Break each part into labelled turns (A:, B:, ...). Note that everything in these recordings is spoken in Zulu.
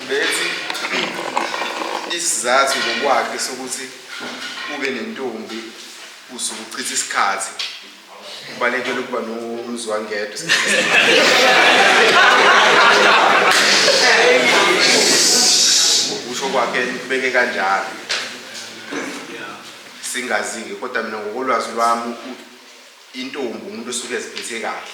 A: Bethi isizathu ngokwakhe sokuthi ube nentombi usuke uchitha isikhathi ubalekele ukuba nomzwangedwa ngokusho kwakhe ubeke kanjalo singazi-ke kodwa mina ngokolwazi lwami intombi umuntu osuke eziphethe kahle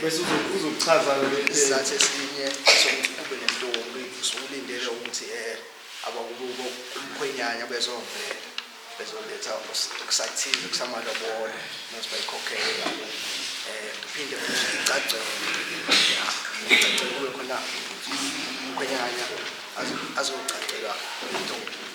B: bese uzokuchaza isizathu
C: esinye sokuthi kube nentombi usulindele ukuthi um abakubo umkhwenyanya bezovela bezoletha kusathize kusamalobolo nokuthi bayikhokhele um eh, phinde icacele icacele kube khona umkhwenyanya azocacelwa intombi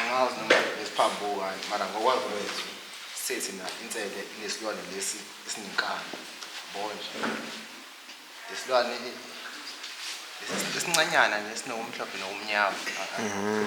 D: angazi noma ngisiphambukayo mara ngokwazi kwethu sethi na insele inesilwane lesi esinenkani bonje isilwane esincanyana nesinokumhlophe nokumnyama mm-hmm.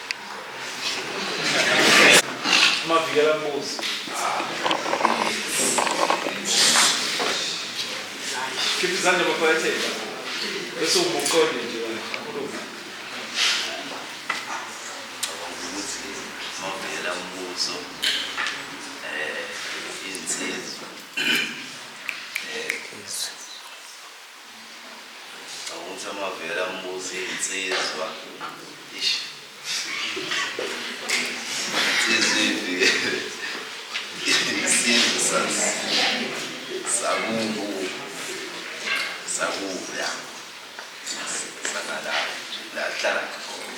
B: Mavikela mbuzi. Khipha izandla baphakatheni. Bese umuqonde nje wena. Khuluma.
E: ukuthi mavela umbuso eh insizwa Awuthi amavela ambuza iy'nsizwa. Ish. Insizwa ivikele. Isizwe sas- sakubo. Sakubo, ya. Sangalapho nje, la kuhlala khona.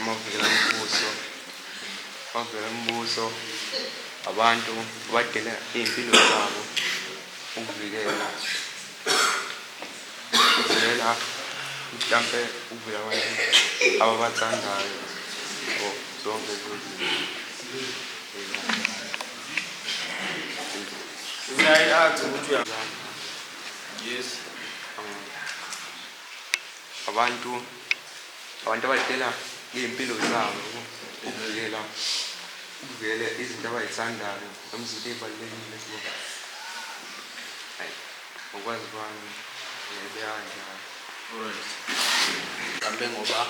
D: amavukela mbuso amavukela mbuso abantu badela iy'mpilo zabo ukuvikela ukuvikela mhlampe ukuvikela abantu ababathandayo or zonke
B: Yes.
D: Abantu abantu abadela ngey'mpilo zabo ukuvikela ukuvikela izinto abay'thandayo noma izinto ey'balulekile kubo. Ayi ngokwazi kwami beyanjalo.
C: Kambe ngoba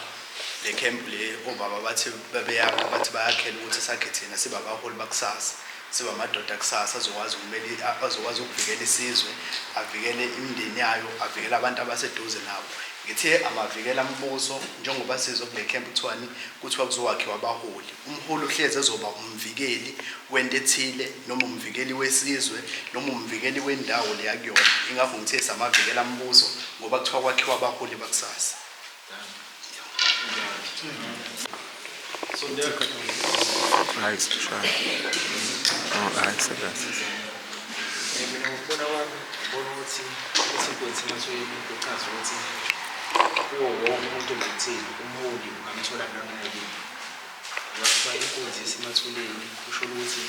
C: le camp le obaba bathi bebeyakha bathi bayakhela ukuthi sakhe thina sibabaholi bakusasa. Siba amadoda kusasa azokwazi ukumela azokwazi ukuvikela isizwe, avikele imindeni yayo, avikele abantu abaseduze nawo. Ngithe amavikela mbuso njengoba sizwe kule camp kuthiwani kuthiwa kuzokwakhiwa abaholi. Umholi uhlezi ezoba umvikeli wento ethile noma umvikeli wesizwe noma umvikeli wendawo le akuyona. Ingakho ngithe samavikela mbuso ngoba kuthiwa kwakhiwa abaholi bakusasa.
D: kuwo
B: wonke umuntu ngathini umholi ungamthola noma yini ngoba inkunzi isemathuleni kusho ukuthi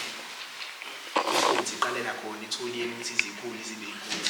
B: inkunzi iqalela khona ithuliyeni ukuthi izikhuli zibe inkulu